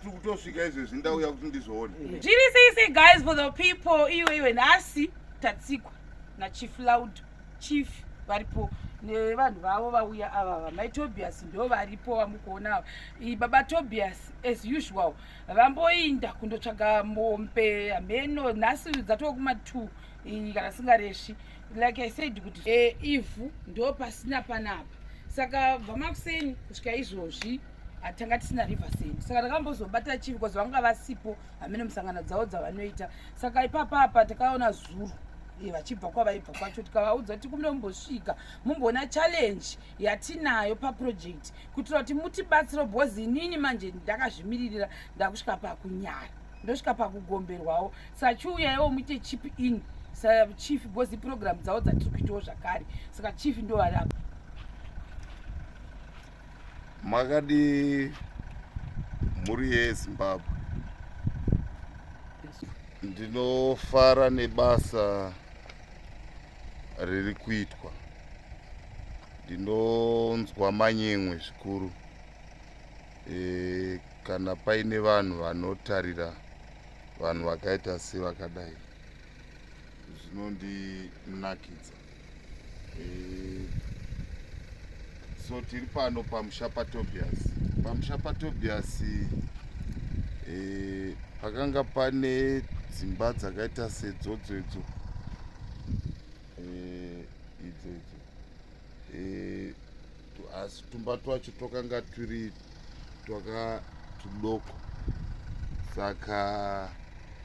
tiri kutosvika izvezvi ndauya kuti ndizoona zviri sisi guys for the people iwe iwe nhasi tatsikwa nachief loud chief varipo nevanhu vavo vauya ava vamai tobias ndo varipo vamukuona ava baba tobias as usual vamboinda kundotsvaga mombe hameno nhasi dzatova kumatu kana singareshi like i said kuti e, ivhu ndo pasina panapa saka bva makuseni kusvika izvozvi tanga tisina river send saka takambozobata chivi bcause vanga vasipo hamene musangano dzavo dzavanoita saka ipapa apa takaona zuru eh, vachibva kwavaibva kwacho tikavaudza kuti kumire mumbosvika mumboona challenge yatinayo paproject kuitira kuti mutibatsiro bcause inini manje ndakazvimiririra ndakusvika pakunyara ndosvika pakugomberwawo sachiuyaiwo muite chip in sachief bcause iprogramu dzavo dzatiri kuitawo zvakare saka chief ndovari apa Makadii mhuri yezimbabwe ndinofara nebasa riri kuitwa ndinonzwa manyemwe zvikuru e, kana paine vanhu vanotarira vanhu vakaita sevakadai zvinondinakidza eh, so tiri pano pamusha patobias pamusha patobias eh, pakanga pane dzimba dzakaita sedzodzo idzo eh, idzo idzo asi tumba twacho twakanga twiri twaka tudoko saka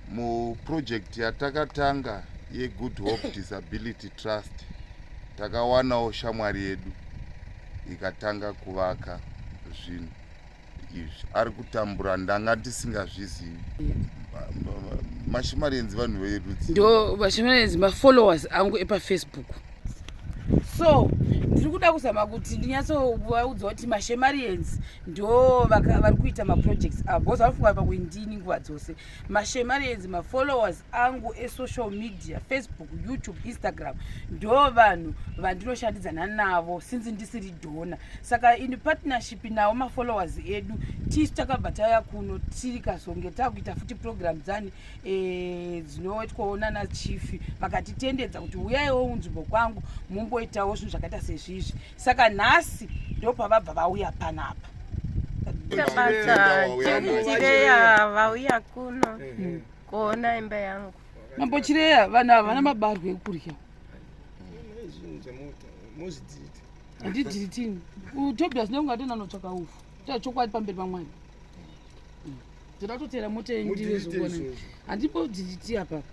muproject yatakatanga yegood hope disability trust takawanawo shamwari yedu ikatanga kuvaka zvinhu izvi ari kutambura ndanga ndisingazvizivi mashimarenzi vanhu verudzi ndo mashimarenzi mafollowers angu epafacebook so ndiri kuda kuzama kuti ndinyatsovaudza kuti mashemarians ndo vari kuita maprojects avo bcause vanofunga pakuindini nguva dzose mashemarians mafollowers angu esocial media facebook youtube instagram ndo vanhu vandinoshandidzana navo since ndisiri dona saka in partnership nawo mafollowers edu tisu takabva taya kuno tikazonge takuita futi program dzani eh, dzinoitwaona nachief vakatitendedza kuti uyaiwo unzvimbo kwangu mumboitawo zvinhu zvakaita sezvizvi saka nhasi ndopavabva vauya panapa chireya vauya kuno kuona imba yangu mambo chireya vanhu ava vana mabarwo ekudya handidhiritini utobias neungatonanotsvaka ufu taa chokwadi pamberi pamwana ndoda kutotera moto yenyu ndivezokona handipo dhiriti apapa